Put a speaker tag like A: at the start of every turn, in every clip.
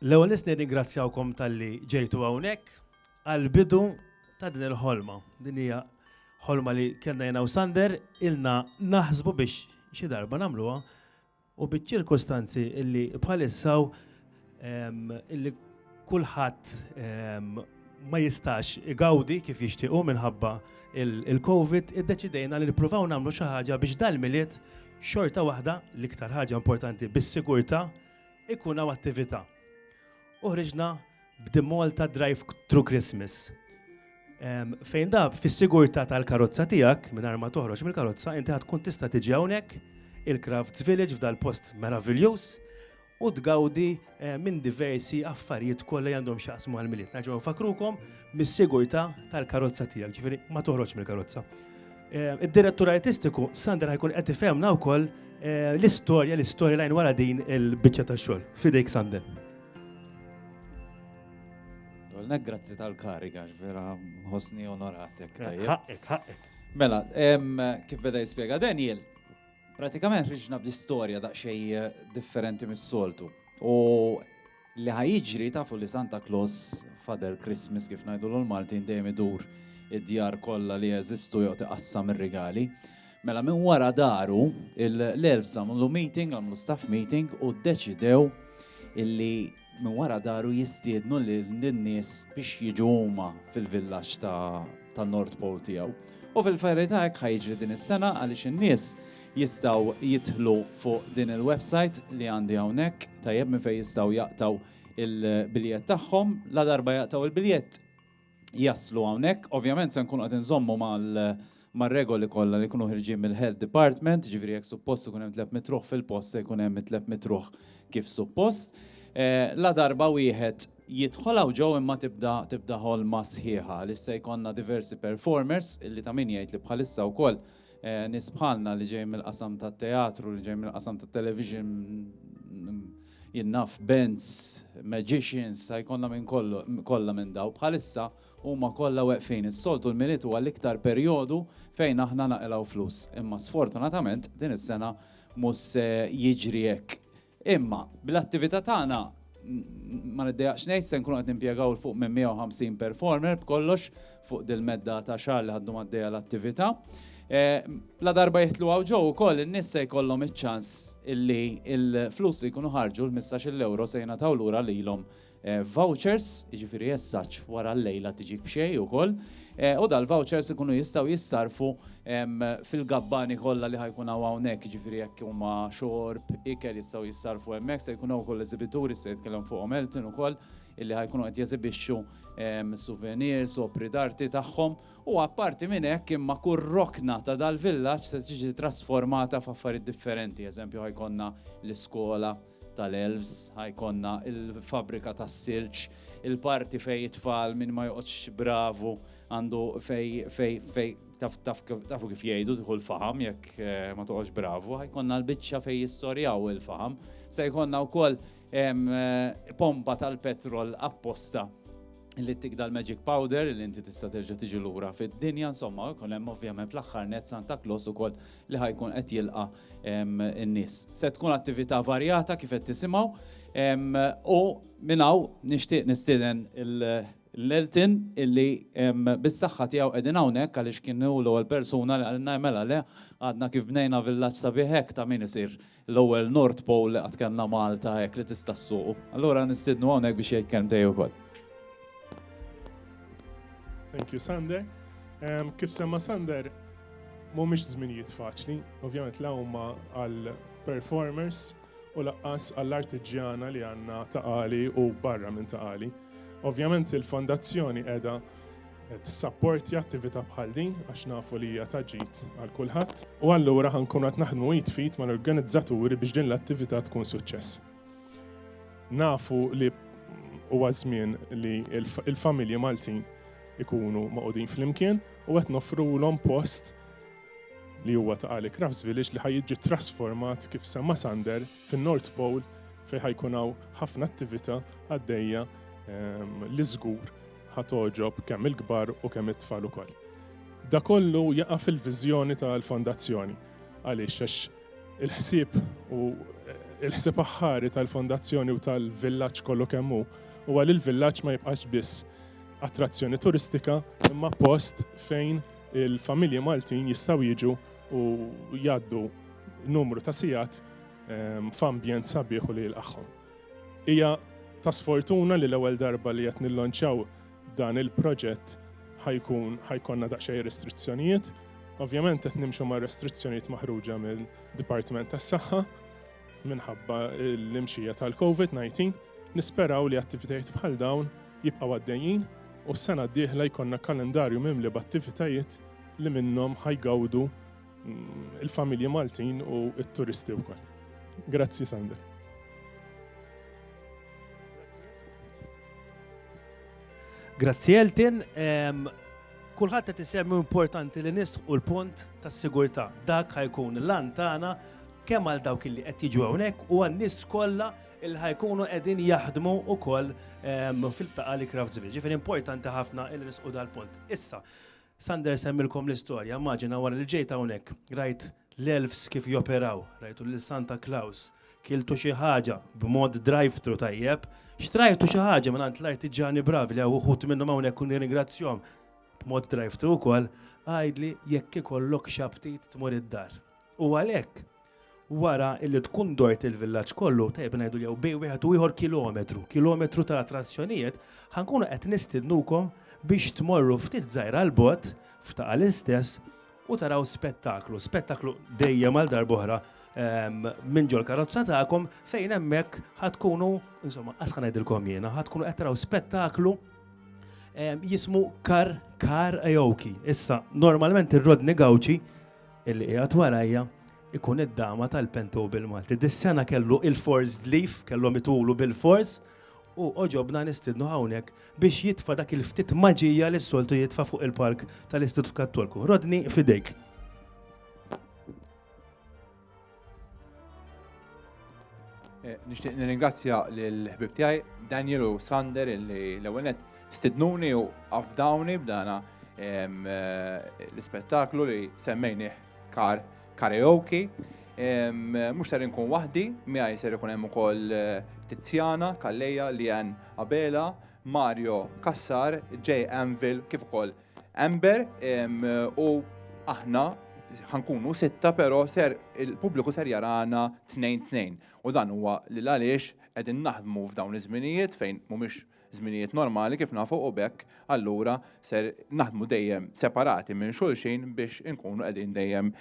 A: L-ewwel nett nirringrazzjawkom talli ġejtu hawnhekk għall-bidu ta' din il-ħolma. Din hija ħolma li kellna jiena u Sander ilna naħsbu biex xi darba nagħmluha u biċ-ċirkustanzi illi bħalissa hawn illi kulħadd ma jistax igawdi kif jixtiequ minħabba il-Covid, iddeċidejna li nippruvaw nagħmlu xi ħaġa biex dal-miliet xorta waħda l-iktar ħaġa importanti bis-sigurtà ikun hawn attività. Uħriġna b'dimol ta' Drive Through Christmas. Fejn da fis-sigurtà tal-karozza tiegħek mingħajr ma toħroġ mill-karozza inti ħad tkun tista' tiġi hawnhekk il-Crafts Village f'dal-post meraviljuż u tgawdi minn diversi affarijiet kollha li għandhom x'jaqsmu għall-Milied. Nerġgħu nfakrukom mis-sigurtà tal-karozza tiegħek, ġifieri ma toħroġ mill-karozza. Id-direttur artistiku Sandra ħajkun qed ifhemna wkoll l-istorja, l-istorja lajn wara din il-biċċa tax-xogħol. Fidejk Sandra.
B: Għolna grazzi tal-kariga, vera ħosni onoratek. Ħaqqek, ħaqqek.
A: Mela,
B: kif beda jispjega Daniel, Pratikament ħriġna b'istorja daqsxejn differenti mis-soltu. U li ħajġri tafu li Santa Claus Father Christmas kif ngħidu l-Maltin dejjem idur id-djar kollha li jeżistu jew tiqassam ir-rigali. Mela minn wara daru l-elf għamlu meeting, għamlu staff meeting u ddeċidew illi Minn wara daru jistiednu lin-nies biex jiġu huma fil-villaġġ tan-North Pole tiegħu. U fil-verità hekk ħa jiġri din is-sena għaliex in-nies jistgħu jidħlu fuq din il-websajt li għandi hawnhekk, tajjeb, minn fejn jistgħu jaqtgħu l-biljett tagħhom. Ladarba jaqtgħu l-biljett, jaslu hawnhekk. Ovvjament se nkunu qed inżommu mar-regoli kollha li jkunu ħirġin mill-Health Department, jiġifieri jekk suppost ikun hemm tlett mitruħ fil-post se jkun hemm it-tlett mitruħ kif suppost. Ladarba wieħed jidħol hawn ġew imma tibda tibda ħolma sħiħa għaliex se jkollna diversi performers illi ta' min jgħid li bħalissa wkoll Nies bħalna li ġejjin mill-qasam tat-teatru, li ġejjin mill-qasam tat-television, jien naf bands, magicians, sa jkollna minn kollu, kollha minn daw. Bħalissa huma kollha weqfin. Is-soltu l-Milied huwa l-iktar perjodu fejn aħna naqilgħu flus. Imma sfortunatament din is-sena mhux se jiġri hekk. Imma, bl-attività tagħna, ma niddejjaqx ngħid, se nkunu qed nimpjegaw 'l fuq minn 150 performer b'kollox fuq dil-medda ta' xahar li ħa ddum għaddejja l-attività. Ladarba jidħlu hawn ġo wkoll in-nies se jkollhom iċ-ċans illi l-flus li jkunu ħarġu, l-ħmistax-il ewro, se jingħataw lura lilhom vouchers, jiġifieri jessaċ wara l-lejla tiġik b'xejn ukoll, u dal-vouchers ikunu jistgħu jissarrfu fil-gabbani kollha li ħa jkun hawn hawnhekk, jiġifieri jekk huma xorb, ikel jistgħu jissarrfu hemmhekk, se jkun hawn ukoll eżibituri, se jitkellem fuqhom Elton ukoll, illi ħa jkunu qed jeżibixxu souvenirs, opri d'arti tagħhom, u apparti minn hekk imma kull rokna ta' dal-villaġġ se tiġi trasformata f'affarijiet differenti, eżempju ħa jkollna l-iskola, tal-elves, ħa jkollna il-fabbrika tas-silġ, il-parti fejn it-tfal minn ma joqgħodx bravu għandu fej fej fej tafu kif jgħidu tieħu l-faham jekk eh, ma toqgħodx bravu, ħa jkollna l-biċċa fejn jistorjaw il-faham, se jkollna wkoll eh, pompa tal-petrol apposta li tik dal-magic powder li inti tista' terġa' tiġi lura fid-dinja, insomma, jkun hemm ovvjament fl-aħħar net Santa Claus ukoll li ħa jkun qed jilqa' n-nies. Se tkun attività varjata kif qed tisimgħu u minn hawn nixtieq nistieden l-Elton illi bis-saħħa tiegħu qegħdin hawnhekk għaliex kien hu l-ewwel persuna li qalilna mela le għadna kif bnejna villaġġ sabiħ hekk ta' min isir L-ewwel North Pole li qatt kellna Malta hekk li tista' ssuqu. Allura nistiednu hawnhekk biex jgħid kelmtej ukoll.
C: Thank you, Sander. Um, kif semma Sander, mhumiex żminijiet faċli, ovvjament la huma għal performers u laqqas għall-artiġjana li għandna taqali u barra minn taqali. Ovvjament il-fondazzjoni qiegħda Tissapportja attività bħal din għax nafu li hija ta' ġid għal kulħadd u allura ħa nkunu qed naħdmu id fit mal-organizzaturi biex din l-attività tkun suċċess. Nafu li huwa żmien li l-familji Maltin ikunu maqudin flimkien u qed nofrulhom post li huwa ta' Ali Crafts Village li ħajġi trasformat kif semma Sander fin-North Pole fejn ħajkun hawn ħafna attività għaddejja ehm, li żgur Ħa togħġob kemm il-kbar u kemm it-tfal ukoll. Dak kollu jaqa' fil-viżjoni tal-Fondazzjoni. Għaliex? Għax il-ħsieb u il-ħsieb aħħari tal-Fondazzjoni u tal-villaġġ kollu kemm hu huwa li l-villaġġ ma jibqax biss attrazzjoni turistika imma post fejn il-familji Maltin jistgħu jiġu u jgħaddu numru ta' sigħat f'ambjent sabiħ u li jilqagħhom. Hija ta' sfortuna li l-ewwel darba li qed nillonċjaw dan il-proġett ħa jkun ħa jkollna daqsxejn restrizzjonijiet. Ovvjament qed nimxu ma' restrizzjonijiet maħruġa minn Dipartiment tas-Saħħa minħabba l-imxija tal-COVID-19. Nisperaw li attivitajiet bħal dawn jibqgħu għaddejjin u s-sena d-dieħla jkollna kalendarju mimli b'attivitajiet li minnhom ħajgawdu mm, il-familji Maltin u t-turisti wkoll. Grazzi Sander.
A: Grazzi Eltin, kulħadd qed isemmi importanti li nistħu l-punt tas-sigurtà. Dak ħajkun l-lan tagħna kemm għal dawk li qed jiġu hawnhekk u għan-nies kollha il ħajkunu qegħdin jaħdmu ukoll fil-taqa li Crafts Village. Ġifieri importanti ħafna il nisqu dal-punt. Issa, Sander semmilkom l-istorja, immaġina wara li ġejt hawnhekk, rajt l-elfs kif joperaw, rajtu lil Santa Claus, kiltu xi ħaġa b'mod drive-thru tajjeb, xtrajtu xi ħaġa minn għand l-artiġġani bravi li hawn uħud minnhom hawnhekk u nirringrazzjahom b'mod drive-thru wkoll, għidli jekk ikollok xi aptit tmur id-dar. U għalhekk, Wara illi tkun dort il-villaġġ kollu, tajjeb ngħidu jew bejn wieħed u ieħor kilometru, kilometru ta' attrazzjonijiet, ħa nkunu qed nistiednukom biex tmorru ftit żgħira 'l bogħod, f'Ta' l-istess, u taraw spettaklu, spettaklu dejjem għal darb'oħra minn ġol-karozza tagħkom fejn hemmhekk ħa tkunu, insomma, qas ħa ngħidilkom jiena, ħa tkunu qed taraw spettaklu jismu Kar Karaoke. Issa, normalment ir-Rodney Gauci Illi qiegħed warajja ikun id-dama tal-Pentu bil-Malti. Dis-sena kellu il-forced leave, kellhom itulu bil-fors, u oġobna nistidnu hawnhekk biex jitfa' dak il-ftit maġija li s-soltu jitfa' fuq il-palk tal-Istitut Kattolku. Rodni, fidejk.
D: Eh, nixtieq nirringrazzja l-ħbib tiegħi Daniel u Sander li l-ewwel stidnuni u afdawni b'dana eh, l-ispettaklu li semmejni kar karaoke. Mhux ser inkun waħdi, miegħi ser ikun hemm ukoll eh, Tiziana, Kalleja, Lian Abela, Mario Kassar, J. Anvil, kif ukoll Amber u aħna ħa nkunu sitta però ser il-pubbliku ser jarana tnejn tnejn. U dan huwa li għaliex qegħdin naħdmu f'dawn iż-żminijiet fejn mhumiex żminijiet normali kif nafu u b'hekk allura ser naħdmu dejjem separati minn xulxin biex inkunu qegħdin dejjem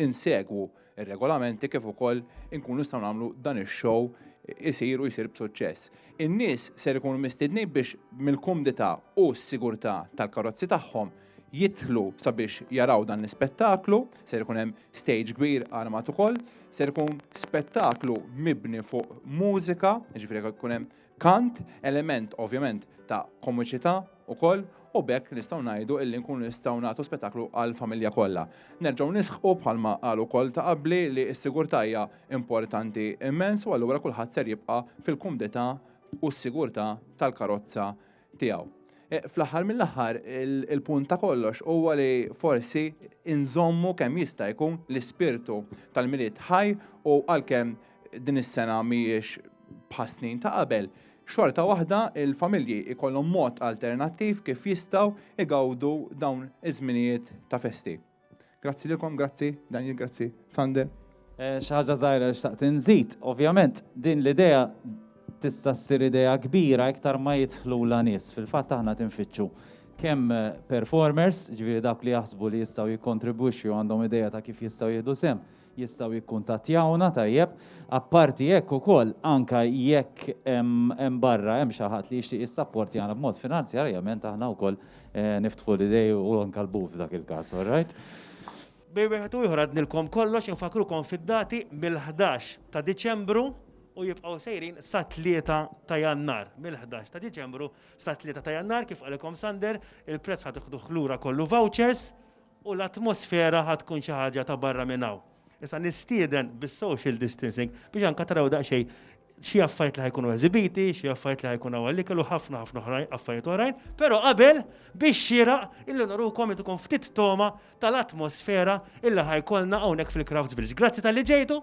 D: insegwu ir-regolamenti kif ukoll inkunu nistgħu nagħmlu dan ix-show isir u jsir b'suċċess. In-nies ser ikunu mistiednin biex mill-kumdità u s-sigurtà tal-karozzi tagħhom jidħlu sabiex jaraw dan l-ispettaklu, ser ikun hemm stage kbir armat ukoll, ser ikun spettaklu mibni fuq mużika, jiġifieri jekk ikun hemm kant, element ovvjament ta' komiċità ukoll u b'hekk nistgħu ngħidu illi nkunu nistgħu nagħtu spettaklu għall-familja kollha. Nerġgħu nisħqu bħalma qalu wkoll ta' qabli li s-sigurtà hija importanti immens u allura kulħadd ser jibqa' fil-kumdità u s-sigurtà tal-karozza tiegħu. Eh, fl-aħħar mill-aħħar il-punt ta' kollox huwa li forsi inżommu kemm jista' jkun l-ispirtu tal-milied ħaj u għalkemm din is-sena mhijiex bħas-snin ta' qabel, xorta waħda il-familji ikollhom mod alternattiv kif jistgħu igawdu dawn iż-żminijiet ta' festi. Grazzi lilkom, grazzi, Daniel, grazzi, Sande. Eh, xi ħaġa
B: żgħira li xtaqt inżid, ovvjament din l-idea tista' ssir idea kbira iktar ma jidħlu la nies. Fil-fatt aħna tinfittxu kemm eh, performers, ġifieri dak li jaħsbu li jistgħu jikkontribwixxu għandhom idea ta' kif jistgħu jieħdu sem, jistgħu jikkuntattjawna, tajjeb. Apparti hekk ukoll, anke jekk hemm barra hemm xi ħadd li jixtieq jissapportjana b'mod finanzjarjament aħna wkoll niftħu l-idej u anke l-but f'dak il-każ, all right? Bejn
A: wieħed u ieħor għednilkom kollox, infakkrukom fid-dati mill-ħdax ta' Diċembru u jibqgħu sejrin sat-Tlieta ta' Jannar. Mill-ħdax ta' Diċembru sat-Tlieta ta' Jannar, kif qalilkom Sander, il-prezz ħa tiħduh lura kollu vouchers, U l-atmosfera ħa tkun xi ħaġa ta' barra minn hawn. Issa nistieden bis-social distancing biex anke taraw daqsxejn xi affarijiet li ħa jkunu eżibiti, xi affarijiet li ħa jkun hawn għall-ikel u ħafna ħafna oħrajn, affarijiet oħrajn, però qabel bix-xieraq illi nurukom li tkun ftit togħma tal-atmosfera illi ħa jkollna hawnhekk fil-Crafts Village. Grazzi talli ġejtu!